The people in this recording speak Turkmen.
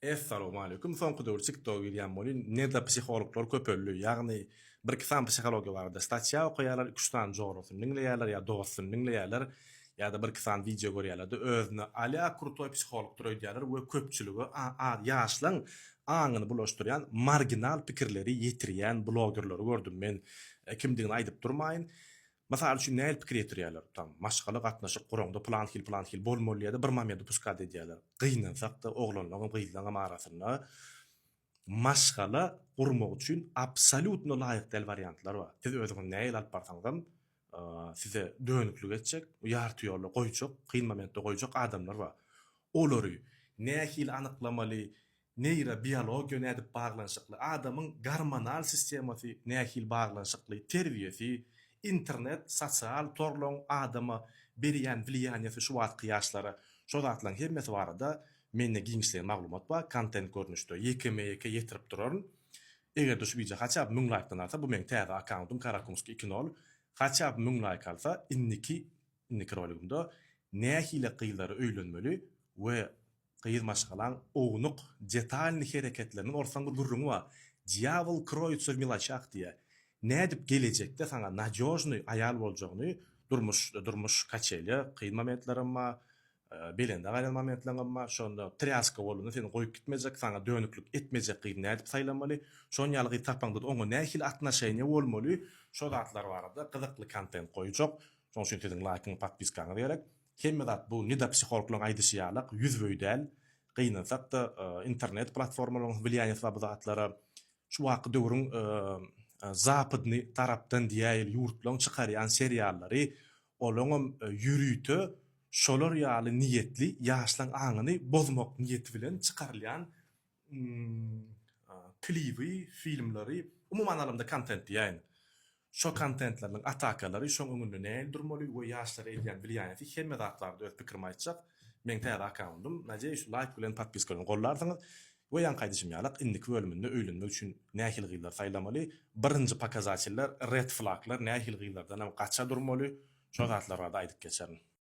Essalowmaleýkum soňky döwür tiktok girýän bolýyn neda psihologlar köpeldi ýagny bir iki sany psihologiýa barada statýa okaýarlar iki üç sany jorasyny diňleýärler ýa dostuny diňleýärler ýada bir iki sany wideo görýärlerde özüne alýa krutoý psihologdyr öýdýärler we köpçülige ýaşlaň aňyny bulaşdyrýan marginal pikirleri ýetirýän blogerleri gördüm men kimdigini aýdyp durmaýyn Mysal üçin nähili pikir ýetirýärler, tam, maşgala gatnaşyk guraňda plan hil plan hil bolmaly diýýärler, bir mamedy puskad edýärler. Gynansakda oglanlaňam gyzlaňam arasynda maşgala gurmak üçin absolýutno laýyk däl wariantlar bar. Siz özüňizi nähili alyp barsaňyzam size dönüklik etjek, ýarty ýolda goýjak, kyn momentde goýjak adamlar bar. Olary nähili anyklamaly, Neýrobiologiýa nädip baglanyşykly, adamyň gormonal sistemasy nähili baglanyşykly, terbiýesi, internet, sosial torlaryň adama berýän wliýaniýesi şu wagtky ýaşlara, şo zatlaryň hemmesi barada mende giňişleýin maglumat bar, kontent görnüşde ýekeme-ýeke ýetirip duraryn. Eger-de şu wideo haçaby müň laýkdan alsa, bu meň täze akkauntym Karakumski iki nol, haçaby müň laýk alsa, indiki indiki roligimde nähili gyzlary öýlenmeli we Gyz maşgalaň ownuk, detalnyý hereketleriniň orsaň bir gürrüňi bar. Dýabol kroýutsa w miloçach diýýä. Nädip gelejekde saňa nadýožnyý aýal boljagyny durmuşda, durmuş kaçelýa, kyn momentlerim bar, belende gaýlan momentleňem bar, şonda trýaska bolanda seni goýup gitmejek, saňa dönüklik etmejek gyzy nädip saýlamaly, şon ýaly gyz tapaňda-da oňa nähili atnoşeniýa bolmaly, şo zatlar barada gyzykly kontent goýjak, şoň üçin siziň laýkyňyz, podpiskaňyz gerek. Hemme zat bu nida psihologlaryň aýdyşy ýalak, ýüzübeý däl. Gynansak-da, internet platformalaryň wlýaniýasy bar bu zatlara. Şu wagtky döwrüň zapdny tarapdan diýäýeli ýurtlaryň çykarýan seriallary, olaňam ýörite şolar ýaly niýetli, ýaşlaryň aňyny bozmak niýeti bilen çykarylýan klibi, filmleri, umuman alanda kontent diýäýin. Şo kontentleriniň atakalary, şoň öňünde nähili durmaly we ýaşlara edýän wlýaniýeti hemme zat barada öz pikirimi aýtjak. Meň täze akkauntym. Nadeýuş laýk bilen podpiska bilen gollarsyňyz. We ýaňky aýdyşym ýalak indiki bölüminde öýlenmek üçin nähili gyzlary saýlamaly, birinji pokazateller, red flaglar, nähili gyzlardanam gaça durmaly, şo zatlar barada aýdyp geçerin.